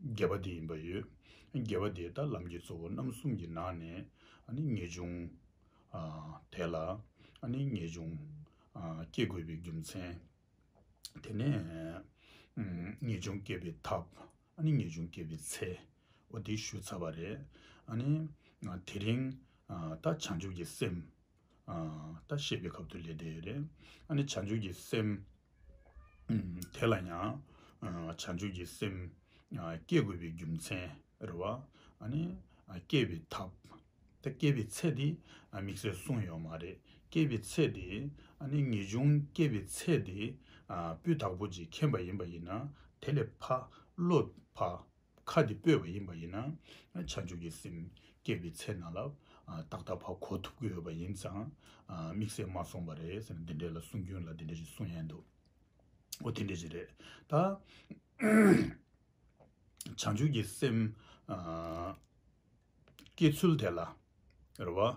དགེ་བ་དེ་ཡིན་པ་ཡོད། དགེ་བ་དེ་ལྟར་ལམ་གྱི་གཙོ་བོ་རྣམ་གསུམ་གྱི་ནང་ནས་ངེས་འབྱུང། དེ་ལ་ངེས་འབྱུང། བསྐྱེད་དགོས་པའི་རྒྱུ་མཚན། དེ་ནས་ངེས་འབྱུང་བསྐྱེད་པའི་ཐབས། ངེས་འབྱུང་བསྐྱེད་པའི་ཚེ། འོ་དེ་ཞུ་ཚར་བ་རེད། དེ་རིང་ད་བྱང་ཆུབ་ཀྱི་སེམས། ད་ཤེས་པའི་ཁབ་ཏུ་ལས་འདས་ཡོད་རེད། ཨ་ནི་བྱང་ཆུབ་ཀྱི་སེམས། དེ་ལ་ཡང་བྱང་ཆུབ་ཀྱི་སེམས། བསྐྱེད་དགོས་པའི་རྒྱུ་མཚན་རེད། བ་ཨ་ནི། བསྐྱེད་པའི་ཐབས། ད་བསྐྱེད་པའི་ཚད་དེ་དམིགས་བསལ་གསུངས་ཡོད་མ་རེད། བསྐྱེད་པའི་ཚད་དེ། ཨ་ནི་ངེས་འབྱུང་བསྐྱེད་པའི་ཚད་དེ། སྤུས་དག་པོ་ཅིག་མཁྱེན་པ་ཡིན་པ་ཡིན་ན། དེ་ལས་ཕ། བློ་ཕ། ཁ་འདི་སྤོས་པ་ཡིན་པ་ཡིན་ན་བྱང་ཆུབ་ཀྱི་སེམས་སྐྱེས་པའི་ཚེ་ན་ལ་དྭགས་ད་བར་གོ་ཐུབ་ཀྱི་ཡོད་པ་ཡིན་ཙང་དམིགས་བསལ་མ་སོང་བ་རེད་ཟེར་ན་འདི་འདྲའི་ལ་གསུང་རྒྱུན་ལ་འདི་འདྲ་ཞིག་གསུང་ཡས་འདུག་འོ་དེ་འདྲ་ཞིག་རེད་ད། བྱང་ཆུབ་ཀྱི་སེམས་སྐྱེས་ཚུལ་དེ་ལ་རེ་བ།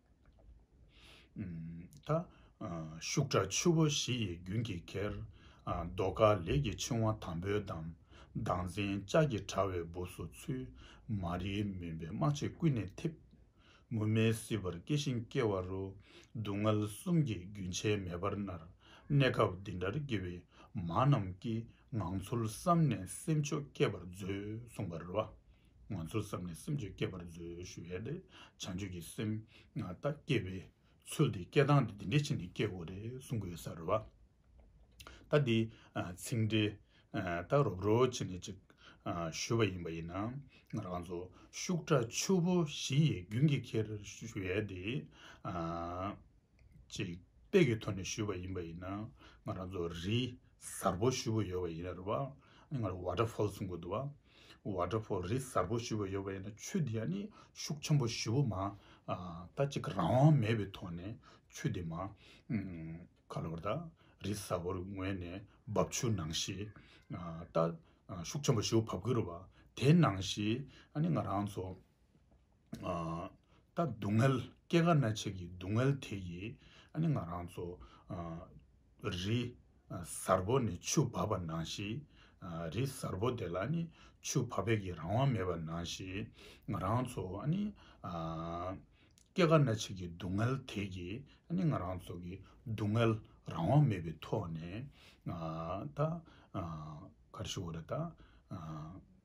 ད། ཤུགས་དྲག་ཆུ་བོ་བཞི་ཡི་རྒྱུན་གྱིས་གྱེར། རྡོ་དཀར་ལས་ཀྱི་འཆིང་བ་དམ་པོའི་འདམ། མདངས་འཛིན་ལྕགས་ཀྱི་དྲ་བའི་སྦུབས་སུ་ཚུད། མ་རིག་མུན་པའི་སྨག་ཕྱེ་ཀུན་ནས་འཐིབས། མུ་མེད་སྲིད་པར་སྐྱེ་ཞིང་སྐྱེ་བ་རུ། སྡུག་བསྔལ་གསུམ་གྱི་རྒྱུན་ཆད་མེད་པར་མནར། གནས་སྐབས་འདི་འདྲར་སྐྱེ་བའི་མ་རྣམས་ཀྱིས། ངང་ཚུལ་བསམ་ནས་སེམས་ཕྱོགས་བསྐྱེད་པར་མཛོད། གསུངས་པ་རུ། ང་ཚོ་བསམ་ནས་སེམས་ཆོས་བསྐྱེད་པར་མཛོད་ཞུ་ཡས་དེ་བྱང་ཆོས་ཀྱི་སེམས་ང་ལྟ་སྐྱེས་པའི་ཚུལ་དེ་སྐྱེ་སྟངས་དེ་འདི་འདྲའི་ཆེད་ནས་སྐྱེས་དགོས་རེད་གསུང་གི་ཡོད་ས་རེད་བ། ད་འདི་ཚིག་འགྲེལ་ལྟར་རོབ་རོ་ཆེ་ནས་ཅིག་ཞུ་བ་ཡིན་པ་ཡིན་ན་ང་རང་ཚོ་ཤུགས་དྲག་ཆུ་བོ་བཞི་ཡི་རྒྱུན་གྱིས་ཁྱེར་ཞུ་ཡས་དེ། ཅིག་དཔེ་ཀྱི་ཐོག་ནས་ཞུས་པ་ཡིན་པ་ཡིན་ན་ང་རང་ཚོ་རི་གཟར་བོ་ཞུ་བོ་ཡོད་པ་ཡིན་རེད་བ་ང་རང་བྷ་ཏྲ་ཕོལ་སུང་གོ་འདུག་བ་བྷ་ཏྲ་ཕོལ་རི་གཟར་བོ་ཞུ་བོ་ཡོད་པ་ཡིན་ན་ཆུ་དེ་ཡང་ནི་ཤུགས་ཆེན་པོ་ཞུ་བོ་མ་ད་ཅིག་རང་དབང་མེད་པའི་ཐོག་ནས་ཆུ་དེ་མ་ཁ་ལོ་ད་རི་གཟར་བོར་ངོས་ནས་འབབ་ཆུ་ནང་བཞིན་ད་ཤུགས་ཆེན་པོ་ཞུ་བོ་བབས་ཀྱི་རེད་བ་དེ་ནང་བཞིན་ང་རང་ཚོ། ད་སྡུག་བསྔལ་སྐྱེ་རྒ་ན་འཆི་གི་སྡུག་བསྔལ་དེ་ཡིས་ཨ་ནི་ང་རང་ཚོ། རི་གཟར་བོ་ནས་ཆུ་བབས་པ་ནང་བཞིན། རི་གཟར་བོ་དེ་ལ་ཨ་ནི་ཆུ་བབས་པའི་གི་རང་དབང་མེད་པ་ནང་བཞིན། ང་རང་ཚོ་ཨ་ནི། སྐྱེ་རྒ་ན་འཆི་གི་སྡུག་བསྔལ་དེ་ཡིས་ཨ་ནི་ང་རང་ཚོ་གི་སྡུག་བསྔལ་རང་དབང་མེད་པའི་ཐོག་ནས། ད། ག་རེ་ཞུ་དགོས་རེད་ད།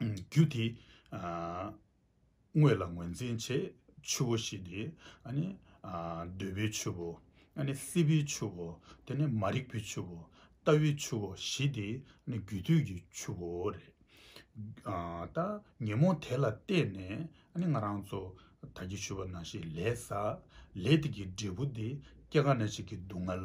རྒྱུ་དེ་དངོས་ལ་ངོས་འཛིན་བྱེད། ཆུ་བོ་ཞེས་དེ་གདོལ་པའི་ཆུ་བོ། སྲིད་པའི་ཆུ་བོ། དེ་ནས་མ་རིག་པའི་ཆུ་བོ། ལྟ་བའི་ཆུ་བོ་ཞེས་དེ་རྒྱུ་དུས་ཀྱི་ཆུ་བོ་རེད། ད་ཉོན་མོངས་དེ་ལ་བལྟས་ནས་ང་རང་ཚོ་ད་ཀྱི་ཆུ་བོ་ན་ཞིག་ལས་ཟ། ལས་དེ་ཀྱི་འབྲས་བུ་དེ་སྐྱེ་རྒ་ན་འཆི་གི་སྡུག་བསྔལ།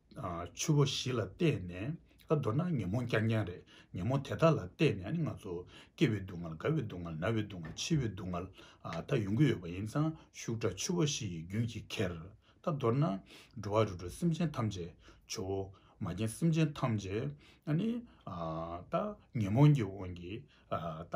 ཆུ་བོ་བཞི་ལ་བལྟས་ནས་མདོར་ན་ཉོན་མོངས་རྐྱང་རྐྱང་རེད། ཉོན་མོངས་དེ་དག་ལ་བལྟས་ནས་ང་ཚོ་སྐྱེ་བའི་སྡུག་བསྔལ་རྒ་བའི་སྡུག་བསྔལ་ན་བའི་སྡུག་བསྔལ་འཆི་བའི་སྡུག་བསྔལ་དག་ཡོང་གི་ཡོད་པ་ཡིན་ཙང་ཤུགས་དྲག་ཆུ་བོ་བཞི་ཡི་རྒྱུན་གྱིས་ཁྱེར། ད་མདོར་ན་འགྲོ་བ་རུ་འགྲོ་སེམས་ཅན་ཐམས་ཅད་ཆུ་བོ་མ་རྒན་སེམས་ཅན་ཐམས་ཅད་ནི་ད་ཉོན་མོངས་ཀྱི་དབང་གིས་ད།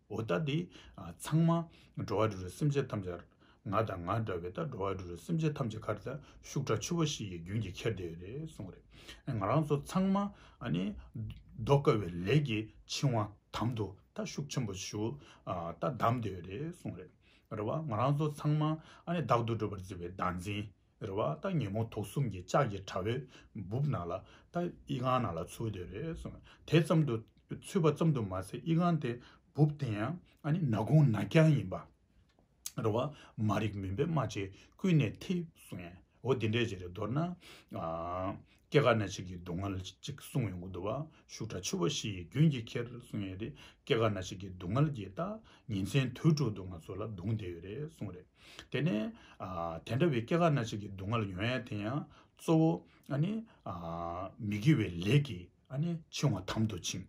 འོ་ད་འདི་ཚང་མ་འགྲོ་བ་རེ་རེ་སེམས་ཅན་ཐམས་ཅད་ང་དང་ང་འདྲ་བའི་ད་འགྲོ་བ་རེ་རེ་སེམས་ཅན་ཐམས་ཅད་ཁར་ད་ཤུགས་དྲག་ཆུ་བོ་ཞིག་གི་རྒྱུན་གྱིས་ཁྱེར་བསྡད་རེད་གསུངས་རེད་ང་རང་ཚོ་ཚང་མ་ཟློག་དཀའ་བའི་ལས་ཀྱི་འཆིང་བ་དམ་དུ་ད་ཤུགས་ཆེན་པོ་ཞུགས་ད་བསྡམས་བསྡད་རེད་གསུངས་རེད་རེད་བ་ང་རང་ཚོ་ཚང་མ་བདག་ཏུ་སྒྲུབ་པར་བརྩི་བའི་བདག་འཛིན་རེད་བ་ད་ཉིན་མོ་དུག་གསུམ་གྱི་ལྕགས་ཀྱི་དྲ་བའི་སྦུབ་ནང་ལ་ད་དབྱི་ཁང་ནང་ལ་ཚུད་དེ་རེད་སོང་དེ་ཙམ་དུ་ཚུད་པ་ཙམ་དུ་མ་ཟད་དབྱི་ཁང་དེ་སྦུབ་དེ་ཡང་ཨ་ནི་ནག་ཁུང་ནག་རྐྱང་ཡིན་པ་རེད་བ་མ་རིག་མུན་པའི་རྨ་བྱས་ཀུན་ནས་ཐིབས་སོང་ངོ་འདི་འདྲས་ཀྱི་རེད་མདོར་ན། སྐྱེ་རྒ་ན་འཆི་གི་སྡུག་བསྔལ་གཅིག་གསུངས་ཡོང་གི་འདུག་བ་ཤུགས་དྲག་འཆི་བ་བཞི་ཡི་རྒྱུན་གྱི་ཁྱེར་གསུངས་ཡོད་རེད་སྐྱེ་རྒ་ན་འཆི་གི་སྡུག་བསྔལ་གྱིས་ད་ཉིན་མཚན་དུས་དྲུག་ཏུ་ང་ཚོ་ལ་རྡུང་བསྡད་ཡོད་རེད་གསུངས་རེད། དེ་ནས། དེ་འདྲ་བའི་སྐྱེ་རྒ་ན་འཆི་གི་སྡུག་བསྔལ་ཡོང་ཡ་དེ་ཡང་གཙོ་བོ། མི་དགེ་བའི་ལས་ཀྱིས་འཆིང་བ་དམ་དུ་འཆིང།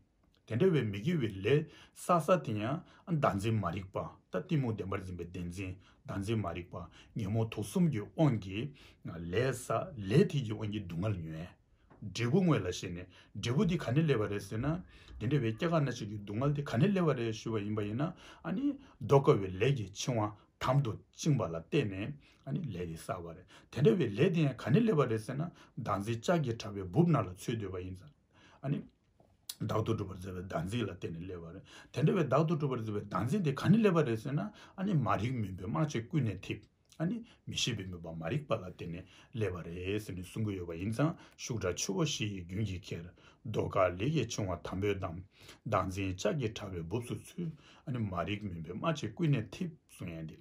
དེ་འདྲ་བའི་མི་དགེ་བའི་ལས་བསགས་བསགས་དེ་ཡང་བདག་འཛིན་མ་རིག་པ་ད་གཏི་མུག་བདེན་པར་འཛིན་པའི་བདེན་འཛིན་བདག་འཛིན་མ་རིག་པ་ཉོན་མོངས་དུག་གསུམ་གྱི་དབང་གིས་ལས་བསགས་ལས་མཐིལ་གྱི་དབང་གིས་སྡུག་བསྔལ་ཉོན། འབྲས་བུ་དངོས་ལ་ཞེན་ནས་འབྲས་བུ་དེ་ག་ནས་སླེབས་པ་རེད་ཟེར་ན། དེ་འདྲ་བའི་སྐྱེ་རྒ་ན་འཆི་གི་སྡུག་བསྔལ་དེ་ག་ནས་སླེབས་པ་རེད་ཞུས་པ་ཡིན་པ་ཡིན་ན། ཟློག་དཀའ་བའི་ལས་ཀྱི་འཆིང་བ་དམ་དུ་བཅིངས་པ་ལ་བརྟེན་ནས་ལས་དེ་བསགས་པ་རེད། དེ་འདྲ་བའི་ལས་དེ་ཡང་ག་ནས་སླེབས་པ་རེད་ཟེར་ན། བདག་འཛིན་ལྕགས་ཀྱི་དྲ་བའི་སྦུབས་ནང་ལ་འཚོལ་འདོད་པ་ཡིན། བདག་ཏུ་སྒྲུབ་པར་མཛད་པའི་དམ་ཚིག་ལ་བརྟེན་ནས་སླེབས་པ་རེད། དེ་འདྲ་བའི་བདག་ཏུ་སྒྲུབ་པར་མཛད་པའི་དམ་ཚིག་དེ་ག་ནས་སླེབས་པ་རེད་ཟེར་ན། ཨཱ་ནི་མ་རིག་མུན་པའི་སྨྲ་བཅད་ཀུན་ནས་འཐིབས། ཨཱ་ནི་མི་ཤེས་པའི་མོས་པ་མ་རིག་པ་ལ་བརྟེན་ནས་སླེབས་པ་རེད་ཟེར་ནས་གསུང་གི་ཡོད་པ་ཡིན་ཙང་ཤུགས་དྲག་ཆུ་བོ་བཞི་ཡི་རྒྱུན་གྱིས་ཁྱེར། རྡོ་ཁ་ལི་ཡི་ཆུང་བ་དམ་པོས་བསྡམས། བདག་འཛིན་ལྕགས་ཀྱི་ཕྲ་བའི་སྦུབས་སུ་ཚུད། ཨཱ་ནི་མ་རིག་མུན་པའི་སྨྲ་བཅད་ཀུན་ནས་འཐིབས་གསུང་ཡན་དེ།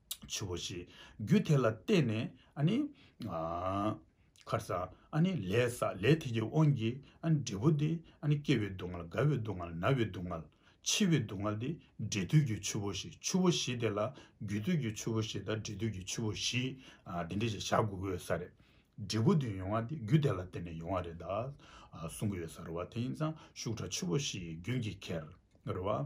ཆུ་བོ་ཞེས་རྒྱུ་དེ་ལ་བརྟེན་ནས་ཁར་ས་ལས་ས་ལས་ཐིག་གི་དབང་གིས་འབྲས་བུ་དེ་སྐྱེ་བའི་སྡུག་བསྔལ་རྒ་བའི་སྡུག་བསྔལ་ན་བའི་སྡུག་བསྔལ་འཆི་བའི་སྡུག་བསྔལ་ཏེ་འབྲས་དུས་ཀྱི་ཆུ་བོ་ཞེས་ཆུ་བོ་བཞི་དེ་ལ་རྒྱུ་དུས་ཀྱི་ཆུ་བོ་བཞི་དང་འབྲས་དུས་ཀྱི་ཆུ་བོ་བཞི་འདི་འདྲ་ཞིག་བཞག་དགོས་ཀྱི་ཡོད་ས་རེད། འབྲས་བུ་དེ་ཡོང་བ་དེ་རྒྱུ་དེ་ལ་བརྟེན་ནས་ཡོང་བ་རེད་གསུང་གི་ཡོད་ས་རེད་བ་དེ་ཡིན་ཙང་ཤུགས་དྲག་ཆུ་བོ་བཞིའི་རྒྱུན་གྱི་ཁྱེར་རེད་བ།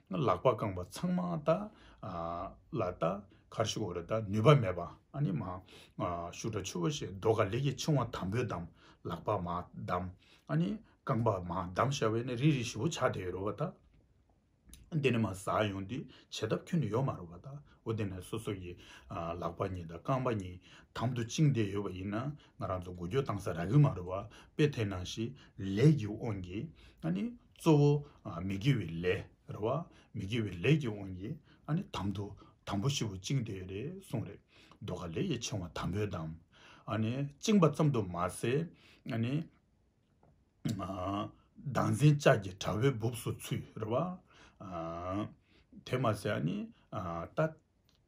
ལག་པ་བཀང་བ་ཚང་མ་ད་ལ་ད་གར་ཞུགས་འོ་རེ་ད་ནུས་པ་མེད་པ་ཨ་ནི་མ་ཞུགས་དྲ་ཆུ་བོ་ཞེས་རྡོ་ག་ལེགས་ཀྱི་ཕྱིང་བ་དམ་པོས་བསྡམས་ལག་པ་མ་བསྡམས་ཨ་ནི་རྐང་པ་མ་བསྡམས་ཤ་བའི་ནི་རིལ་རིལ་ཞུ་བོ་ཆགས་དེ་ཡོད་རོ་བ་ད་འདི་ནི་མ་ཟ་ཡོང་དུས་བྱེད་ཐབས་ཁྱོན་ནི་ཡོད་མ་རོ་བ་ད་འོ་དེ་ནས་སོ་སོ་ཡི་ལག་པ་གཉིས་ད་རྐང་པ་གཉིས་དམ་དུ་བཅིངས་དེ་ཡོད་བ་ཡིན་ན་ང་རང་ཚོ་འགུལ་སྐྱོད་བཏང་ས་རག་གི་མ་རོ་བ་དཔེ་དེ་ནང་བཞིན་ལས་ཀྱི་དབང་གིས་ཨ་ནི། གཙོ་བོ། མི་དགེ་བའི་ལས་རེད་བ། མི་དགེ་བའི་ལས་ཀྱི་དབང་གིས་ཨ་ནི་དམ་དུ་དམ་པོ་ཞེ་བོ་བཅིངས་ཏེ་རེད་གསུངས་རེད། མདོ་ཁ་ལས་ཡས་ཆེན་བ་དམ་པོའི་དམ། ཨ་ནི་བཅིངས་པ་ཙམ་དུ་མ་ཟད། ཨ་ནི། བདག་འཛིན་ལྕགས་ཀྱི་དྲ་བའི་སྦུབས་སུ་ཚུད་རེད་བ། དེ་མ་ཟད་ཨ་ནི། ད།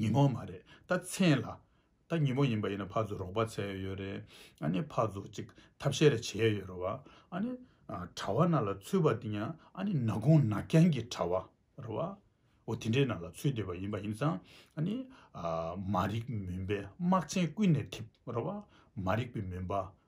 ཉིན་མོ་མ་རེད་ད་མཚན་ལ་ད་ཉིན་མོ་ཡིན་པ་ཡིན་ན་ཕར་ཚུར་རོགས་པ་བྱས་ཡོད་རེད་ཨ་ནི་ཕར་ཚུར་ཅིག་ཐབས་ཤེས་རེ་བྱས་ཡོད་རེད་བ་ཨ་ནི་གྲྭ་བ་ན་ལ་ཚུད་པ་དེ་ཡང་ཨ་ནི་ན་གུང་ན་རྐྱང་གི་གྲྭ་བ་རེད་བ་འོ་དེ་འདྲའི་ན་ལ་ཚུད་བསྡད་པ་ཡིན་པ་ཡིན་ཙང་ཨ་ནི་མ་རིག་མུན་པའི་དམག་ཆེན་ཀུན་ནས་ཐིབས་རེད་བ་མ་རིག་པའི་མུན་པ་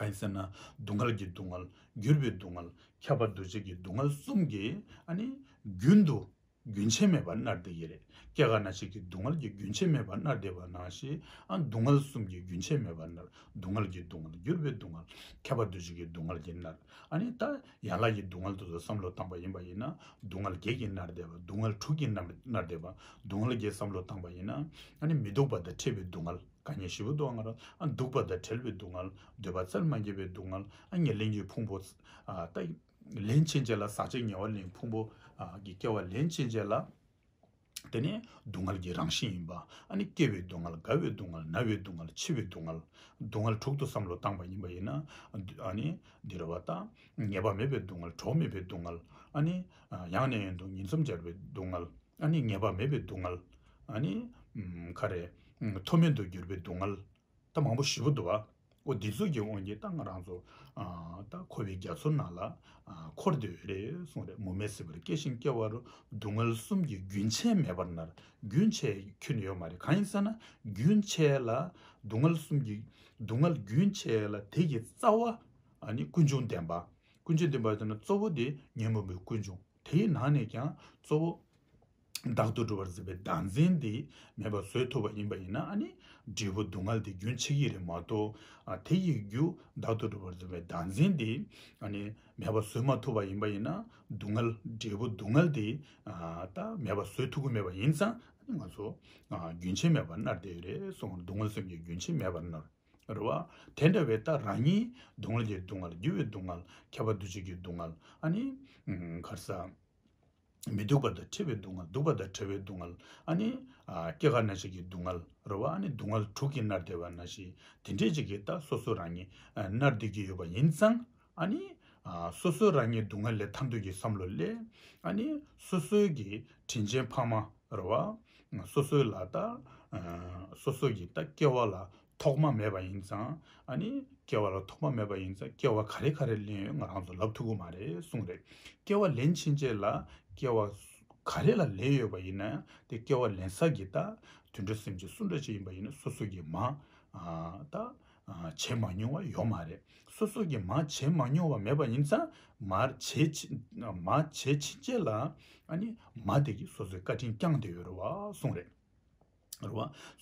གང་ཟེར་ན་སྡུག་བསྔལ་གྱི་སྡུག་བསྔལ་འགྱུར་བའི་སྡུག་བསྔལ་ཁྱབ་པ་འདུ་བྱེད་ཀྱི་སྡུག་བསྔལ་གསུམ་གྱི་རྒྱུན་དུ་རྒྱུན་ཆད་མེད་པར་མནར་བསྡད་ཀྱི་རེད་སྐྱེ་རྒ་ན་འཆི་གི་སྡུག་བསྔལ་གྱི་རྒྱུན་ཆད་མེད་པར་མནར་བསྡད་པ་ན་ཞེས་སྡུག་བསྔལ་གསུམ་གྱི་རྒྱུན་ཆད་མེད་པར་མནར་སྡུག་བསྔལ་གྱི་སྡུག་བསྔལ་འགྱུར་བའི་སྡུག་བསྔལ་ཁྱབ་པ་འདུ་བྱེད་ཀྱི་སྡུག་བསྔལ་གྱིས་མནར། ད་ཡན་ལག་གི་སྡུག་བསྔལ་དུ་བསམ་བློ་བཏང་པ་ཡིན་པ་ཡིན་ན་སྡུག་བསྔལ་བརྒྱད་ཀྱིས་མནར་བསྡད་པ་སྡུག་བསྔལ་དྲུག་གིས་མནར་བསྡད་པ་སྡུག་བསྔལ་བརྒྱད་བསམ་བློ་བཏང་པ་ཡིན་ན་མི་སྡུག་པ་དང་འཕྲད་པའི་སྡུག་བསྔལ། དགའ་ཉེ་བཞི་པོ་སྡུག་བསྔལ། སྡུག་པ་དང་བྲལ་བའི་སྡུག་བསྔལ། འདོད་པ་རྩར་མ་འགྱེལ་བའི་སྡུག་བསྔལ། ཉེར་ལེན་གྱི་ཕུང་པོ། ལན་ཅན་བྱས་ལ་ཟག་བཅས་ཉེ་བར་ལེན་ཕུང་པོ། ཀྱི་སྐྱེ་བ་ལན་ཅན་བྱས་ལ། དེ་ནི་སྡུག་བསྔལ་གྱི་རང་བཞིན་ཡིན་པ། སྐྱེ་བའི་སྡུག་བསྔལ། རྒ་བའི་སྡུག་བསྔལ། ན་བའི་སྡུག་བསྔལ། འཆི་བའི་སྡུག་བསྔལ། སྡུག་བསྔལ་དྲུག་ཏུ་བསམ་བློ་བཏང་བ་ཡིན་པ་ཡིན་ན། འདི་རུ་བ་དང། ཉེས་པ་མེད་པའི་སྡུག་བསྔལ། གྲོགས་མེད་པའི་སྡུག་བསྔལ། ཡང་ནས་ཡང་དུ་ཉིན་མཚམས་སྦྱར་བའི་སྡུག་བསྔལ། ཨ་ནི་ངེས་པ་མེད་པའི་སྡུག་བསྔལ། ཨ་ནི། ཁ་རེ། མཐོ་དམན་དུ་གྱུར་པའི་སྡུག་བསྔལ། རྟ་མང་པོ་བཞི་པོ་འདུ་བ། འོ་འདི་ཚོགས་ཀྱི་དབང་གིས་རྟ་ང་རང་ཚོ། རྟ་འཁོར་བའི་རྒྱ་མཚོ་ནང་ལ། འཁོར་འདོད་རེ་གསུངས་རེ་མུ་མེད་སྲིད་པར་སྐྱེ་ཞིང་སྐྱེ་བ་རུ་སྡུག་བསྔལ་གསུམ་གྱི་རྒྱུན་ཆད་མེད་པར་མནར་རྒྱུན་ཆད་ཁྱོན་ནས་ཡོད་མ་རེད་གང་ཡིན་ཟེར་ན་རྒྱུན་ཆད་ལ། སྡུག་བསྔལ་གསུམ་གྱི་སྡུག་བསྔལ་རྒྱུན་ཆད་ལ་དེ་གྱི་རྩ་བ། ཨ་ནི་ཀུན་འབྱུང་བདེན་པ། ཀུན་འབྱུང་བདེན་པ་ཟེར་ན་གཙོ་བོ་དེ་ཉོན་མོངས་པའི་ཀུན་འབྱུང། དེའི་ནང་ནས་ཀྱང་གཙོ་བོ། བདག་ཏུ་གྲུབ་པར་འཛིན་པའི་བདག་འཛིན་འདི་མེད་པར་བཟོད་ཐུབ་པ་ཡིན་པ་ཡིན་ན་ནི། འབྲས་བུ་སྡུག་བསྔལ་འདི་རྒྱུན་ཆགས་ཀྱི་རེད་མ་གཏོགས། དེ་ཡི་རྒྱུ་བདག་ཏུ་གྲུབ་པར་འཛིན་པའི་བདག་འཛིན་འདི། མེད་པར་བཟོད་མ་ཐུབ་པ་ཡིན་པ་ཡིན་ན། སྡུག་བསྔལ་འབྲས་བུ་སྡུག་བསྔལ་འདི། མེད་པར་བཟོད་ཐུབ་ཀྱི་མེད་པ་ཡིན་ཙང། ང་ཚོ། རྒྱུན་ཆད་མེད་པར་མནར་བསྡད་ཡོད་རེད་སོང་སྡུག་བསྔལ་སེམས་ཀྱི་རྒྱུན་ཆད་མེད་པར་མནར། རེད་བ། དེ་འདྲ་བའི་རྟགས་རང་ཉིད། སྡུག་བསྔལ་གྱི་སྡུག་བསྔལ་རྒྱུ་བའི་སྡུག་བསྔལ། ཁྱབ་པ་འདུ་བྱེད་ཀྱི་སྡུག་བསྔལ། ཨ་ནི། གར་ས། མི་སྡུག་པ་དང་འཁྲི་བའི་སྡུག་བསྔལ་སྡུག་པ་དང་བྲལ་བའི་སྡུག་བསྔལ། ཨ་ནི། སྐྱེ་རྒ་ན་འཆི་ཀྱི་སྡུག་བསྔལ། རེད་བ། ཨ་ནི་སྡུག་བསྔལ་དྲུག་གིས་མནར་བདེ་བ་ན་ཞིག་དེ་འདྲའི་གཅིག་གི་རྟགས་སོ་སོ་རང་ཉིད་མནར་སྡོད་ཀྱི་ཡོད་པ་ཡིན་ཙང། ཨཱ་ནི། སོ་སོ་རང་ཉིད་སྡུག་བསྔལ་ལས་ཐར་འདོད་ཀྱི་བསམ་བློ་ལས། ཨཱ་ནི། སོ་སོའི་གི་དྲིན་ཅན་འཕགས་མ་ར་བ། སོ་སོའི་ལ་ད། སོ་སོ་གི་ད་སྐྱེ་བ་ལ་ཐོག་མ་མེད་པ་ཡིན་ཙང། ཨཱ་ནི། སྐྱེ་བ་ལ་ཐོག་མ་མེད་པ་ཡིན་ཙང་སྐྱེ་བ་ག་རེ་ག་རེ་ལེན་ཡོད་ང་རང་ཚོ་ལབ་ཐུབ་གི་མ་རེད་གསུངས་རེད། སྐྱེ་བ་ལེན་ཕྱིན་ཆད་ལ་སྐྱེ་བ། ག་རེ་ལ་ལེན་ཡོད་པ་ཡིན་ན་དེ་སྐྱེ་བ་ལེན་ས་གི་ད། དུད་འགྲོ་སེམས་ཅན་སུ་འདྲ་ཅིག་ཡིན་པ་ཡིན་ན་སོ་སོ་གི་མ། ད། བྱས་མ་མྱོང་བ་ཡོད་མ་རེད། སོ་སོ་གིས་མ་བྱས་མ་མྱོང་བ་མེད་པ་ཡིན་ཙང་མ་བྱས་ཕྱིན་ཆད་ལ་མ་དེ་གིས་སོ་སོའི་བཀའ་དྲིན་བསྐྱངས་ཏེ་ཡོད་རེད་བ་གསུངས་རེད།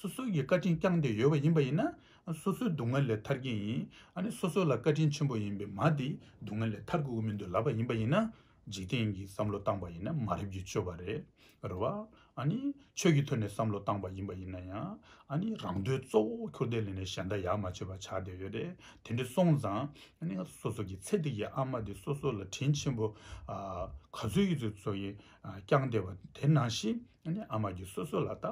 སོ་སོ་གིས་བཀའ་དྲིན་བསྐྱངས་ཏེ་ཡོད་པ་ཡིན་པ་ཡིན་ན་སོ་སོའི་སྡུག་བསྔལ་ལས་ཐར་གྱི་ཡིན། སོ་སོ་ལ་བཀའ་དྲིན་ཆེན་པོ་ཡིན་པའི་མ་དེའི་སྡུག་བསྔལ་ལས་ཐར་དགོས་ཀྱི་མི་འདུག་ལབ་པ་ཡིན་པ་ཡིན་ན། འཇིག་རྟེན་གྱི་བསམ་བློ་བཏང་པ་ཡིན་ན་མ་རེད་རྒྱུ་སྤྱོད་པ་རེད་རེད་བ། ཨཱ་ནི། ཆོས་ཀྱི་ཐོད་ནས་བསམ་བློ་བཏང་པ་ཡིན་པ་ཡིན་ན་ཡང། ཨཱ་ནི་རང་འདོད་གཙོ་བོ་ཁྱོ་ཏའི་ལས་ནས་གཞན་དག་ཡག་མ་བྱེད་པ་ཆགས་བསྡད་ཡོད་རེད་དེ་འདྲི་སོང་ཙང། ཨཱ་ནི། སོ་སོ་གྱི་ཚད་ཐིག་གི་ཨ་མ་དེ་སོ་སོ་ལ་དྲིན་ཆེན་པོ། ག་ཚོད་ཡོད་ཚོད་ཚོ་ཡིས་བསྐྱངས་བསྡད་པ་དེ་ནང་བཞིན། ཨཱ་ནི། ཨ་མ་གྱི་སོ་སོ་ལ་ལྟ།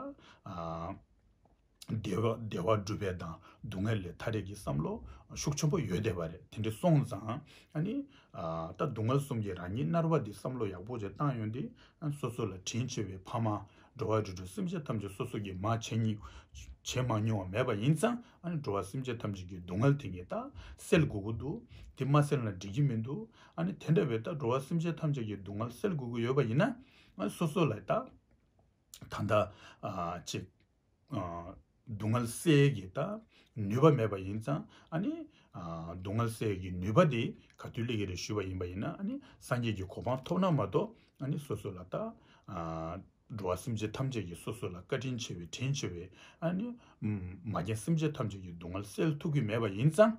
བདེ་བ་བསྒྲུབ་པའི་དང་སྡུག་བསྔལ་ལས་ཐར་རེས་ཀྱི་བསམ་བློ་ཤུགས་ཆེན་པོ་ཡོད་བསྡད་པ་རེད་དེ་འདྲ་སོང་ཙང་ཨ་ནི། ད་སྡུག་བསྔལ་གསུམ་གྱི་རང་ཉིད་མནར་བ་འདི་བསམ་བློ་ཡག་པོ་ཞིག་བཏང་ཡོང་དུས་སོ་སོ་ལ་དྲིན་ཆེ་བའི་ཕ་མ། འགྲོ་བ་རིགས་དྲུག་སེམས་ཅན་ཐམས་ཅད་སོ་སོ་གྱིས་མ་བྱས་མྱོང་བ་མྱོང་བ་མེད་པ་ཡིན་ཙང་ཨ་ནི་འགྲོ་བ་སེམས་ཅན་ཐམས་ཅད་ཀྱི་སྡུག་བསྔལ་དེ་ངས་ད་སེལ་དགོས་ཀྱི་འདུག་དེ་མ་སེལ་ན་འགྲིག་གི་མི་འདུག་ཨ་ནི་དེ་འདྲ་བའི་ད་འགྲོ་བ་སེམས་ཅན་ཐམས་ཅད་ཀྱི་སྡུག་བསྔལ་སེལ་དགོས་ཀྱི་ཡོད་པ་ཡིན་ན། སོ་སོ་ལ་ད་ད་ཅིག། སྡུག་བསྔལ་སེལ་གྱི་ད་ནུས་པ་མེད་པ་ཡིན་ཙང་ཨ་ནི། སྡུག་བསྔལ་སེལ་གྱི་ནུས་པ་དེ་ག་དུས་སླེ་གི་རེད་ཞུས་པ་ཡིན་པ་ཡིན་ན་ཨ་ནི་སངས་རྒྱས་ཀྱི་གོ་འཕང་ཐོབ་ན་མ་གཏོགས་ཨ་ནི་སོ་སོ་ལ་ད། འགྲོ་བ་སེམས་ཅན་ཐམས་ཅད་ཀྱི་སོ་སོ་ལ་བཀའ་དྲིན་ཆེ་བའི་དྲིན་ཆེ་བའི་ཨ་ནི། མ་རྒན་སེམས་ཅན་ཐམས་ཅད་ཀྱི་སྡུག་བསྔལ་སེལ་ཐུབ་ཀྱི་མེད་པ་ཡིན་ཙང།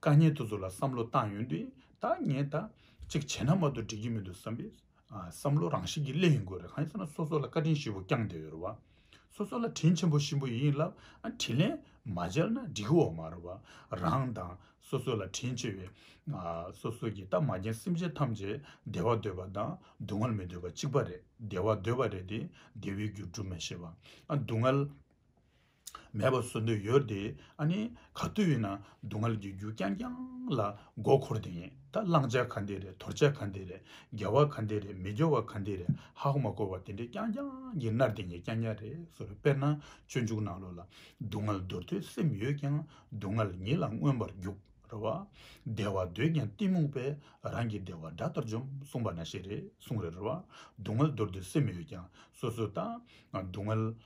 དཀའ་ཉེན་དེ་ཚོ་ལ་བསམ་བློ་བཏང་ཡོང་དུས་ད་ངས་ད་ཅིག་བྱས་ན་མ་གཏོགས་འགྲིག་གི་མི་འདུག་བསམ་པའི་བསམ་བློ་རང་བཞིན་གྱིས་སླེབས་ཡོང་དགོས་རེད་གང་ཡིན་ཟེར་ན་སོ་སོ་ལ་བཀའ་དྲིན་ཞིམ་པོ་བསྐྱངས་བསྡད་ཡོད་རེད་བ། སོ་སོ་ལ་དྲིན་ཆེན་པོ་ཞིམ་པོ་ཡོད་ཡིན་ལབ་ཨ་དྲིན་ལན་མ་བརྗེར་ན་འགྲིག་གི་འོག་མ་རེད་བ། རང་དང་སོ་སོ་ལ་དྲིན་ཆེ་བའི་སོ་སོ་གྱིས་ད་མ་རྒན་སེམས་ཅན་ཐམས་ཅད་བདེ་བ་འདོད་པ་དང་སྡུག་བསྔལ་མི་འདོད་པ་གཅིག་པ་རེད་བདེ་བ་འདོད་པ་རེད་དེ་བདེ་བའི་རྒྱུ་སྒྲུབ་མ་ཤེས་བ་སྡུག་བསྔལ། མེད་པར་བཟོ་འདོད་ཡོད་དེ། ཨ་ནི་ག་དུས་ཡིན་ན་སྡུག་བསྔལ་གྱི་རྒྱུ་རྐྱང་རྐྱང་ལ་མགོ་འཁོར་དེ་ཡིན་ད་བླང་བྱ་ག་འདི་རེད་དོར་བྱ་ག་འདི་རེད་དགེ་བ་ག་འདི་རེད་མི་དགེ་བ་ག་འདི་རེད་ཧ་ཧོ་མ་གོ་བ་དེ་འདྲས་རྐྱང་རྐྱང་གི་མནར་དེ་ཉིད་རྐྱང་རྐྱང་རེད་ཟེར་བའི་དཔེར་ན་སྤྱོད་འཇུག་ནང་ལོགས་ལ་སྡུག་བསྔལ་འདོར་ཐོས་སེམས་ཡོད་ཀྱང་སྡུག་བསྔལ་ཉིད་ལ་མངོན་པར་རྒྱུག་ར་བ། བདེ་བ་འདོད་ཀྱང་གཏི་མུག་པས་རང་གི་བདེ་བ་དགྲ་ལྟར་འཇོམས་གསུངས་པ་ན་ཤེས་རེད་གསུངས་རེད་ར་བ། སྡུག་བསྔལ་འདོར་ཐོས་སེམས་ཡོད་ཀྱང་སོ་སོའི་ལྟ། སྡུག་བསྔལ།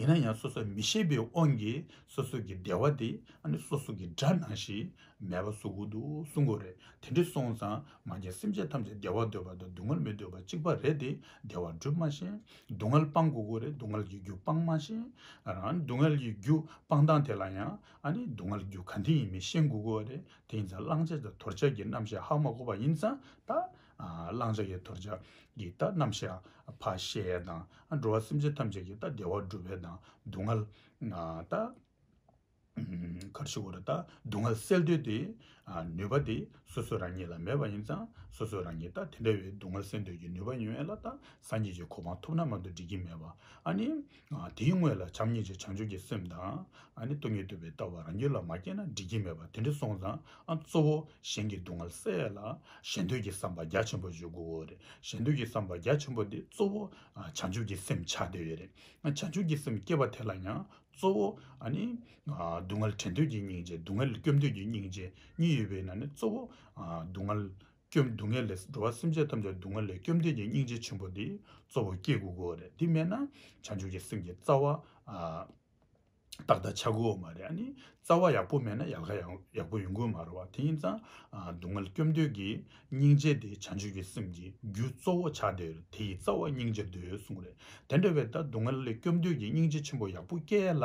ཡིན་ན་ཡང་སོ་སོར་མི་ཤེས་པའི་དབང་གིས་སོ་སོ་གི་བདེ་བ་དེ་སོ་སོ་གི་དགྲ་ནང་བཞིན་མེད་པ་བཟོ་དགོས་འདུག་གསུང་དགོས་རེད་དེ་འདྲ་སོང་ཙང་ང་རྒྱལ་སེམས་ཅན་ཐམས་ཅད་བདེ་བ་འདོད་པ་དང་སྡུག་བསྔལ་མི་འདོད་པ་གཅིག་པ་རེད་དེ་བདེ་བ་སྒྲུབ་མ་ཤེས་སྡུག་བསྔལ་སྤང་དགོས་དགོས་རེད་སྡུག་བསྔལ་གྱི་རྒྱུ་སྤང་མ་ཤེས་སྡུག་བསྔལ་གྱི་རྒྱུ་སྤང་སྟངས་དེ་ལ་ཡང་སྡུག་བསྔལ་གྱི་རྒྱུ་ག་དེ་ཡིན་མིན་ཤེས་དགོས་དགོས་རེད་དེ་ཡིན་ཙང་བླང་བྱ་དང་དོར་བྱ་གི་རྣམ་བཤད་ཧ་མ་གོ་བ་ཡིན་ཙང་ད་བླང་བྱ་ཡི་དོར་བྱ་ཡི་རྟགས་རྣམ་བཞག་བ་ཤའི་དང། འགྲོ་བ་སེམས་ཅན་ཐམས་ཅད་ཀྱི་རྟགས་བདེ་བ་སྒྲུབ་པའི་དང་སྡུག་བསྔལ་རྟགས། གར་ཞི་བ་རུ་རྟགས་སྡུག་བསྔལ་སེལ་འདོད་དེ། ནུས་པ་དེ་སོ་སོ་རང་ཉིད་ལ་མེད་པ་ཡིན་ཙང་སོ་སོ་རང་ཉིད་རྟགས་དེ་འདྲ་བའི་སྡུག་བསྔལ་སེལ་འདོད་ཀྱི་ནུས་པ་ཡོད་ལ་རྟགས་སངས་རྒྱས་ཀྱི་གོ་འཕང་ཐོབ་ན་མ་གཏོགས་འགྲིག་གི་མེད་པ་ཨ་ནི། དེའི་དངོས་ལ་བྱམས་སྙིང་རྗེ་བྱང་ཆུབ་ཀྱི་སེམས་དང། སྟོང་ཉིད་དུལ་བའི་ལྟ་བ་རང་རྒྱུད་ལ་མ་སྐྱེས་ན་འགྲིག་གི་མེད་པ་དེ་འདྲ་སོང་ཙང་གཙོ་བོ་གཞན་གྱི་སྡུག་བསྔལ་སེལ་ལ་གཞན་དོན་གྱི་བསམ་པ་རྒྱ་ཆེན་པོ་འཇུག་དགོས་རེད་གཞན་དོན་གྱི་བསམ་པ་རྒྱ་ཆེན་པོ་དེ་གཙོ་བོ་བྱང་ཆུབ་ཀྱི་སེམས་ཆགས་དེ་རེད་བྱང་ཆུབ་ཀྱི་སེམས་སྐྱེས་པ་དེ་ལ་ཡང་གཙོ་བོ། སྡུག་བསྔལ་དྲན་འདོད་ཀྱི་སྙིང་རྗེ་སྡུག་བསྔལ་སྐྱོབ་འདོད་ཀྱི་སྙིང་རྗེ་གཉིས་ཡོད་པས་ན་ནི་གཙོ་བོ་སྡུག་བསྔལ་སྐྱོབ། སྡུག་བསྔལ་ལས་འགྲོ་བ་སེམས་ཅན་ཐམས་ཅད་སྡུག་བསྔལ་ལས་སྐྱོབ་འདོད་ཀྱི་སྙིང་རྗེ་ཆེན་པོ་འདི་གཙོ་བོ་སྐྱེ་དགུ་གོ་རེད་འདི་མེད་ན་བྱང་ཆུབ་ཀྱི་སེམས་ཀྱི་རྩ་བ་རྟག་ད་ཆག་གོ་མ་རེད་ཨ་ནི་རྩ་བ་ཡག་པོ་མེད་ན་ཡལ་ག་ཡག་པོ་ཡོང་གོ་མ་རེད་བ་དེ་ཡིན་ཙང་སྡུག་བསྔལ་སྐྱོབ་འདོད་ཀྱི་སྙིང་རྗེ་འདི་བྱང་ཆུབ་ཀྱི་སེམས་ཀྱི་རྒྱུ་གཙོ་བོ་ཆག་འདོད་རེད་དེ་ཡི་རྩ་བ་སྙིང་རྗེ་འདོད་གསུངས་རེད་དེ་འདྲ་བས་ད་སྡུག་བསྔལ་ལས་སྐྱོབ་འདོད་ཀྱི་སྙིང་རྗེ་ཆེན་པོ་ཡག་པོ་སྐྱེ་ཡལ་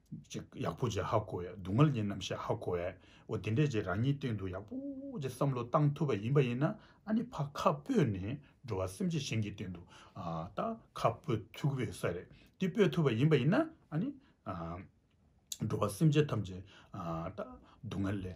ཅིག་ཡག་པོ་བྱེད་ཧ་གོ་ཡ་སྡུག་བསྔལ་གྱི་རྣམ་ཤེས་ཧ་གོ་ཡ་འོ་དེ་འདྲས་ཀྱི་རང་ཉིད་སྟེང་དུ་ཡག་པོ་གྱི་བསམ་བློ་བཏང་ཐུབ་པ་ཡིན་པ་ཡིན་ན་ཨ་ནི་ཕ་ཁ་སྤོས་ནས་འགྲོ་བ་སེམས་ཅན་གཞན་གྱི་སྟེང་དུ་ད་ཁ་སྤོས་ཐུག་པའི་ས་རེད་འདི་སྤོས་ཐུབ་པ་ཡིན་པ་ཡིན་ན་ཨ་ནི་འགྲོ་བ་སེམས་ཅན་ཐམས་ཅད་ད་སྡུག་བསྔལ་ལས་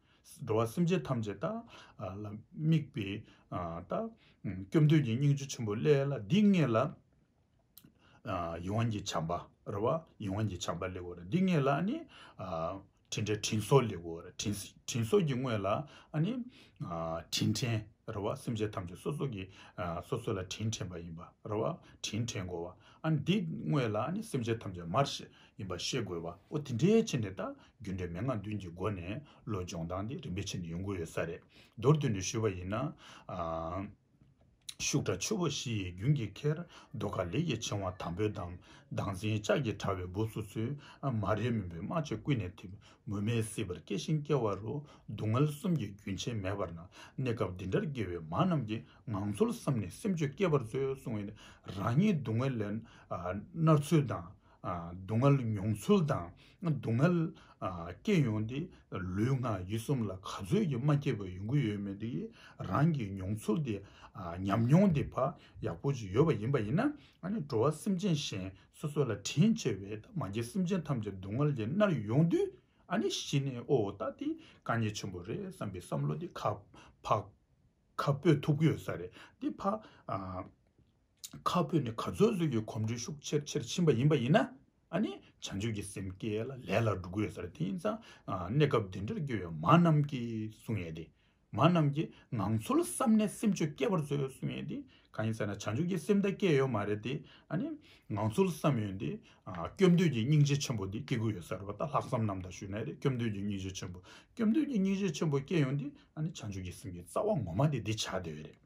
འགྲོ་བ་སེམས་ཅན་ཐམས་ཅད་ལ་དམིགས་པའི་ལྟ། སྐྱོབ་འདོད་ཀྱི་སྙིང་རྗེ་ཆེན་པོ་ཀླད་ལ་འདི་ལྔས་ལ། ཡིད་དབང་གི་བྱམས་པ་རེ་བ་ཡིད་དབང་གི་བྱམས་པ་ལེགས་འོར་འདི་ལྔས་ལ་ནི། དྲིན་དྲན་དྲིན་གསོ་ལེགས་འོར་དྲིན་གསོ་གྱི་དངོས་ལ་ནི། དྲིན་དྲན་རེ་བ་སེམས་ཅན་ཐམས་ཅད་སོ་སོ་གིས་སོ་སོ་ལ་དྲིན་དྲན་པ་ཡིན་པ་རེ་བ་དྲིན་དྲན་གོ་བ་འདི་དངོས་ལ་ནི་སེམས་ཅན་ཐམས་ཅད་མར་ཡིན་པ་ཤེས་དགོས་བ་འོ་དེ་འདྲའི་ཆེད་ནས་ད་རྒྱུ་འབྲས་མན་ངག་བདུན་གྱི་སྒོ་ནས་བློ་སྦྱོང་སྟངས་དེ་རིམ་པའི་ཆེད་ནས་ཡོང་གི་ཡོད་ས་རེད་མདོར་བསྡུས་ནས་ཞུས་བ་ཡིན་ན། ཤུགས་དྲག་ཆུ་བོ་བཞི་ཡི་རྒྱུན་གྱི་ཁེར་རྡོ་ཁ་ལེ་ཡི་ཕྱིང་བ་དམ་པོའི་འདམ་མདངས་འཛིན་ལྕགས་ཀྱི་དྲ་བའི་སྦུབས་སུ་ཚུད་མ་རེད་མུན་པའི་རྨ་བྱ་ཀུན་ནས་འཐིབ་མུ་མེད་སྲིད་པར་སྐྱེ་ཞིང་སྐྱེ་བ་རུ་སྡུག་བསྔལ་གསུམ་གྱི་རྒྱུན་ཆད་མེད་པར་སྣང་གནས་སྐབས་འདི་འདྲར་དགེ་བའི་མ་རྣམས་ཀྱི་ངང་ཚུལ་བསམ་ནས་སེམས་ཆོས་སྐྱེས་པར་མཛོད་གསུང་བས་རང་ཉིད་སྡུག་བསྔལ་ལས་མནར་ཚུལ་དང། སྡུག་བསྔལ་མྱོང་ཚུལ་དང་སྡུག་བསྔལ་སྐྱེས་ཡོང་སྟེ་ལུས་ངག་ཡིད་གསུམ་ལ་ག་ཚོད་ཀྱིས་མ་སྐྱེས་པའི་ཡོང་གི་ཡོད་མེད་དེ་རང་གིས་མྱོང་ཚུལ་དེ་ཉམས་མྱོང་དེ་བག་ཡག་པོ་ཅིག་ཡོད་པ་ཡིན་པ་ཡིན་ན་འགྲོ་བ་སེམས་ཅན་གཞན་སོ་སོ་ལ་དྲིན་ཆེ་བས་ད་མ་སྐྱེས་སེམས་ཅན་ཐམས་ཅད་སྡུག་བསྔལ་གྱི་མནར་ཡོང་དུས་གཞི་ནས་ཨོ་ད་འདི་དཀའ་ཉེ་ཆེན་པོ་རེད་བསམ་པའི་བསམ་བློ་དེ་ཁ་འཕོས་ཐུབ་ཀྱི་ཡོད་ས་རེད་དེ་ཕ། ཁ་སྤོས་ནི་ག་ཚོད་བཟོས་ཀྱི་གོམས་འདྲིས་ཤུགས་ཆེར་ཆེར་ཕྱིན་པ་ཡིན་པ་ཡིན་ན། བྱང་ཆུབ་ཀྱི་སེམས་བསྐྱེད་ལ་ལས་ལ་འགྲོ་དགོས་ཟེར་དེ་ཡིན་ཙང་གནས་སྐབས་འདི་འདྲར་སྐྱོ་བའི་མ་རྣམས་ཀྱིས་བསུ་ངེས་ཏེ། མ་རྣམས་ཀྱིས་ངང་ཚུལ་བསམ་ནས་སེམས་ཆོས་སྐྱེ་བར་བཟོས་བས་བསུ་ངེས་ཏེ། གང་ཡིན་ཟེར་ན་བྱང་ཆུབ་ཀྱི་སེམས་ད་སྐྱེས་ཡོད་མ་རེད་དེ། ངང་ཚུལ་བསམ་ཡོད་དེ། སྐྱོབ་འདོད་ཀྱི་སྙིང་རྗེ་ཆེན་པོ་དེ་སྐྱེ་དགོས་ཡོད་ཟེར་བ་ལྟར་ལྷག་བསམ་རྣམས་དང་ཞུ་ནས་སྐྱོབ་འདོད་ཀྱི་སྙིང་རྗེ་ཆེན་པོ་སྐྱོབ་འདོད་ཀྱི་སྙིང་རྗེ་ཆེན་པོ་སྐྱེ་ཡོང་དེ། བྱང་ཆུབ་ཀྱི་སེམས་ཀྱི་རྩ་བ་ངོ་མ་དེ་འདི་བྱ་དེ་བས་རེད།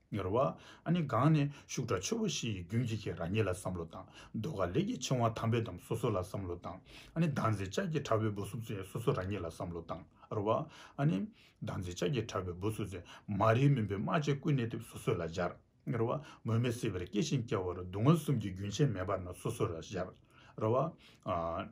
གཉོར་བ། ཨ་ནི་གང་ནས་ཤུགས་དྲག་ཆེ་བ་ཞིག་ཡི་རྒྱུན་གྱིས་ཁྱེད་རང་ཉིད་ལ་བསམ་བློ་བཏང། ཟློས་གར་ལས་ཀྱི་ཆེ་བ་དམ་པའི་དམ་སོ་སོ་ལ་བསམ་བློ་བཏང། ཨ་ནི་ཟླ་མཛེས་ལྕགས་ཀྱི་ཁྲ་བོའི་འབུ་སུབ་ཚེ་སོ་སོ་རང་ཉིད་ལ་བསམ་བློ་བཏང། ར་བ། ཨ་ནི། ཟླ་མཛེས་ལྕགས་ཀྱི་ཁྲ་བོའི་འབུ་སུབ་ཚེ་མ་རིག་མུན་པའི་རྨ་བྱའི་སྐུད་སྣེ་ཐེབས་སོ་སོ་ལ་སྦྱར། གཉོར་བ། མུ་མེད་སྲིད་པར་སྐྱེ་ཞིང་སྐྱེ་བ་རུ་སྡུག་བསྔལ་གསུམ་གྱི་རྒྱུན་ཆད་མེད་པར་ན་སོ་སོ་ལ་སྦྱར། ར་བ།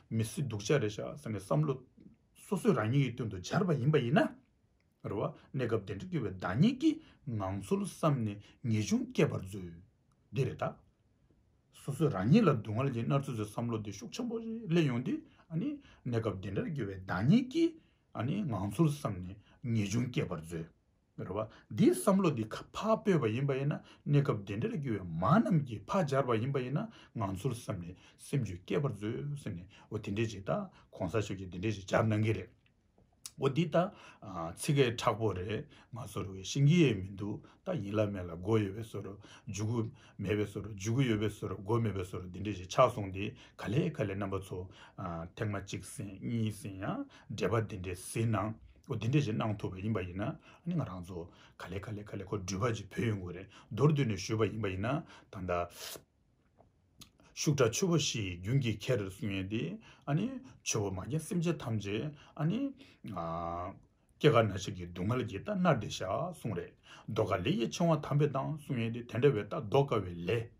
མི་སྲིད་སྡུག་ཅག་རེད་བཞག་ཟེར་ནས་བསམ་བློ་སོ་སོས་རང་ཉིད་ཀྱི་དོན་དུ་སྦྱར་བ་ཡིན་པ་ཡིན་ན་རེད། གནས་སྐབས་དེ་འདྲ་སྐྱོ་བའི་བདག་ཉིད་ཀྱི་ངང་ཚུལ་བསམ་ནས་ངེས་འབྱུང་བསྐྱེད་པར་མཛོད། འདི་རེད་ད། སོ་སོས་རང་ཉིད་ལ་སྡུག་བསྔལ་གྱིས་མནར་ཚོད་ཚོད་བསམ་བློ་དེ་ཤུགས་ཆེན་པོ་ཞིག་སླེབས་ཡོང་དུས་གནས་སྐབས་དེ་འདྲར་སྐྱོ་བའི་བདག་ཉིད་ཀྱི་ངང་ཚུལ་བསམ་ནས་ངེས་འབྱུང་བསྐྱེད་པར་མཛོད། རེད་བ། འདིའི་བསམ་བློ་འདི་ཁ་ཕག་སྤོས་པ་ཡིན་པ་ཡིན་ན་གནས་སྐབས་འདི་འདྲར་རྒྱུ་བའི་མ་རྣམས་ཀྱིས་ཕག་སྦྱར་བ་ཡིན་པ་ཡིན་ན་ང་ཚོར་བསམ་ནས་སེམས་འགྱོད་སྐྱེས་པར་མཛོད་ཟེར་ནས་འོ་དེ་འདྲས་ཅིག་ད་གོང་ས་མཆོག་གིས་འདི་འདྲས་ཅིག་སྦྱར་གནང་གི་རེད། འོ་འདི་ད་ཚིག་ཁས་ཁྲག་པོ་རེད་ང་ཚོར་བའི་ཤེས་ཀྱི་ཡས་མི་འདུག་ད་ཡིན་ལ་མེད་ལ་སྒོ་ཡོད་པའི་སོར་འཇུག་གི་མེད་པའི་སོར་འཇུག་གི་ཡོད་པའི་སོར་སྒོ་མེད་པའི་སོར་འདི་འདྲས་ཅིག་ཆགས་སོང་དེ་ག་ལས་ག་ལས་རྣམ་པ་ཚོ་ཐེངས་མ་གཅིག་ཟིན་གཉིས་ཟིན་ཡང་འབྲེལ་པ་འདི་འདྲས་ཟིན་ན། འདི་འདྲས་ཞིག་གནང་ཐུབ་པ་ཡིན་པ་ཡིན་ན་ང་རང་ཚོ་ག་ལེ་ག་ལེ་ག་ལེ་ཁོ་འགྲུལ་པ་ཅིག་བོས་ཡོད་དགོས་རེད་མདོར་བསྡུས་ནས་ཞུས་པ་ཡིན་པ་ཡིན་ན་ད་ལྟ་ཤུགས་དྲག་ཆུ་བོ་བཞིན་རྒྱུན་གྱིས་ཁྱེར་རེར་སོང་ཡོད་དེ་ཆུ་བོ་མ་རྒན་སེམས་ཅན་ཐམས་ཅད་སྐྱེ་རྒ་ན་འཆི་གི་སྡུག་བསྔལ་གྱི་རྟ་རྣར་འདེད་བཞག་སོང་རེད་མདོ་ག་ལེ་ཡི་ཕྱིང་བ་དམ་པས་བཏང་སོང་ཡོད་དེ་དེ་འདྲ་བའི་རྟ་བཟློག་དཀའ་བའི་ལས།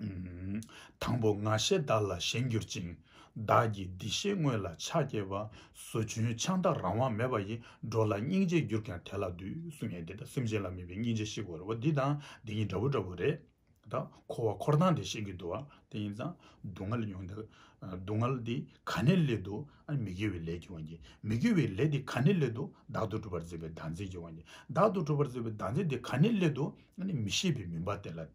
དང་པོ་ང་ཞེས་བདག་ལ་གཞན་གྱུར་ཅིང། བདག་གིས་འདི་ཞེས་དངོས་ལ་ཕྱག་བགྱི་བ། བཟོ་བཅུན་ཆང་དག་རང་དབང་མེད་པ་ཡིས། འགྲོ་ལ་སྙིང་རྗེས་གྱུར་ཀྱང་དེ་ལ་འདུད། སུ་ངས་འདི་དང་སེམས་ཅན་ལ་དམིགས་པའི་སྙིང་རྗེ་ཤིག་གོ་རེ་བ་འདི་དང་འདི་གཉིས་འདྲ་བོ་འདྲ་བོ་རེད། དང། འཁོར་བ་འཁོར་སྟངས་དེ་ཤེས་ཀྱི་འདུག་ཨ། དེ་ཡིན་ཙང། སྡུག་བསྔལ་མྱོང་འདི། སྡུག་བསྔལ་འདི་ག་ནས་སླེབས་འདུག་ཨ། མི་དགེ་བའི་ལས་ཀྱི་དབང་གིས། མི་དགེ་བའི་ལས་འདི་ག་ནས་སླེབས་འདུག་བདག་ཏུ་གྲུབ་པར་མཛད་པའི་བདག་འཛིན་གྱི་དབང་གིས། བདག་ཏུ་གྲུབ་པར་མཛད་པའི་བདག་འཛིན་འདི་ག་ནས་སླེབས་འདུག་ཨ། མི་ཤེས་པའི་མུན་པ་དེ་ལ།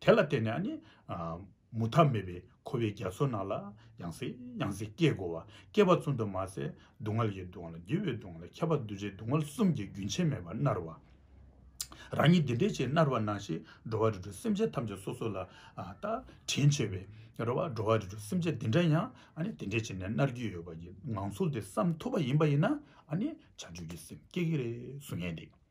དེ་ལ་བརྟེན་ནས་ནི། མུ་མཐའ་མེད་པའི་འཁོར་བའི་རྒྱ་མཚོ་ནང་ལ་ཡང་སྲིད་ཡང་སྲིད་སྐྱེ་དགོས་པ་སྐྱེ་བ་ཙམ་དུ་མ་ཟད་སྡུག་བསྔལ་གྱི་སྡུག་བསྔལ་ལ་རྒྱུ་བའི་སྡུག་བསྔལ་ལ་ཁྱད་པར་གདུལ་བྱའི་སྡུག་བསྔལ་གསུམ་གྱི་རྒྱུན་ཆད་མེད་པར་མནར་བ། རང་ཉིད་འདི་འདྲའི་ཆེས་མནར་བར་སྣང་ཞེས་འགྲོ་བ་རིགས་དྲུག་སེམས་ཅན་ཐམས་ཅད་སོ་སོ་ལ་བལྟ། དྲིན་ཆེ་བའི་རེ་བ་འགྲོ་བ་རིགས་དྲུག་སེམས་ཅན་འདི་འདྲ་ཡང་དེ་འདྲའི་ཆེ་ནས་མནར་གྱི་ཡོད་པ་ཡི་ངང་ཚུལ་དེ་བསམ་ཐུབ་པ་ཡིན་པ་ཡིན་ན་ནི་བྱང་ཆུབ་ཀྱི་སེམས་སྐྱེ་གི་རེད་བཟོ་ངེས་ཏེ།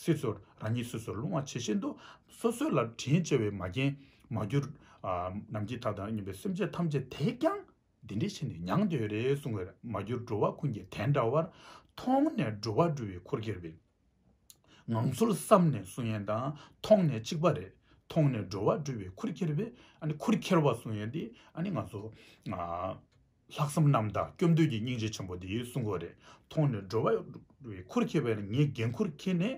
སྲིད་ཚོར་རང་ཉིད་སོ་སོར་སློང་བ་ཇི་བཞིན་དུ། སོ་སོ་ལ་དྲིན་བཅལ་བའི་མ་རྒན། མ་གྱུར། ནམ་གྱི་དག་དང་སྙོམས་པའི་སེམས་ཅན་ཐམས་ཅད་དེས་ཀྱང། འདི་འདྲའི་ཆེ་ནས་མྱང་འདས་རེ་གསུང་བས་མ་གྱུར་འགྲོ་བ་ཀུན་གྱིས་དེ་འདྲ་བར། མཐོང་ནས་འགྲོ་བ་སྒྲུབ་བའི་འཁོར་གྱུར་པའི། ངང་ཚུལ་བསམ་ནས་གསུང་ཡན་དང་མཐོང་ནས་གཅིག་པ་རེ། མཐོང་ནས་འགྲོ་བ་སྒྲུབ་བའི་འཁོར་གྱུར་པའི། འཁོར་ཁྱེར་བ་གསུང་ཡན་འདི་ང་ཚོ། ལྷག་བསམ་རྣམ་དག་སྐྱོབ་འདོད་ཀྱི་སྙིང་རྗེ་ཆེན་པོ་དེ་ཡིན་གསུང་གོ་རེ་མཐོང་ནས་འགྲོ་བའི་ཁུར་ཁྱེར་བས་ན་ངས་འགན་ཁུར་ཁྱེར་ནས་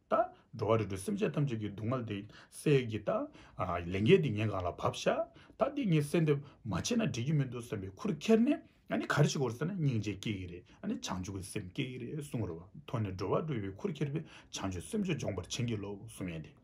ད་འགྲོ་བ་རེ་འགྲོ་སེམས་ཅན་ཐམས་ཅད་ཀྱི་སྡུག་བསྔལ་དེ་སེལ་གྱི་ད་ལས་འགན་དེ་ངའི་འགག་ལ་བབས་ཤག་ད་འདི་ངས་གསལ་འདེབས་མ་བྱས་ན་འགྲིག་གི་མི་འདུག་བསམ་པའི་ཁུར་ཁྱེར་ནས་ཡང་ག་རེ་བྱེད་དགོས་ཟེར་ན་སྙིང་རྗེ་སྐྱེ་གི་རེད་བྱང་ཆུབ་ཀྱི་སེམས་སྐྱེ་གི་རེད་གསུང་རེ་བ་མཐོང་ནས་འགྲོ་བ་འགྲོ་བའི་ཁུར་ཁྱེར་བས་བྱང་ཆུབ་སེམས་ཅན་སྦྱོང་བར་བྱིན་གྱིས་རློབས་གསུང་ཡན་དེ།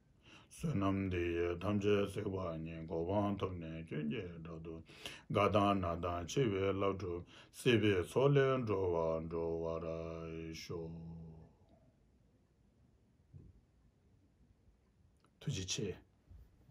བསོད་ནམས་འདི་ཡིས་ཐམས་ཅད་བསྲེགས་པ་ཉིད་གོ་འཕང་ཐོབ་ནས་སྐྱོན་གྱི་དགྲ་དུ་རྒ་དང་ན་དང་འཆི་བའི་བླ་སྒྲུབ་སྲིད་པའི་ཚོགས་ལས་འགྲོལ་བར་འགྲོ་བར་ཤོག། ཐུགས་རྗེ་ཆེ།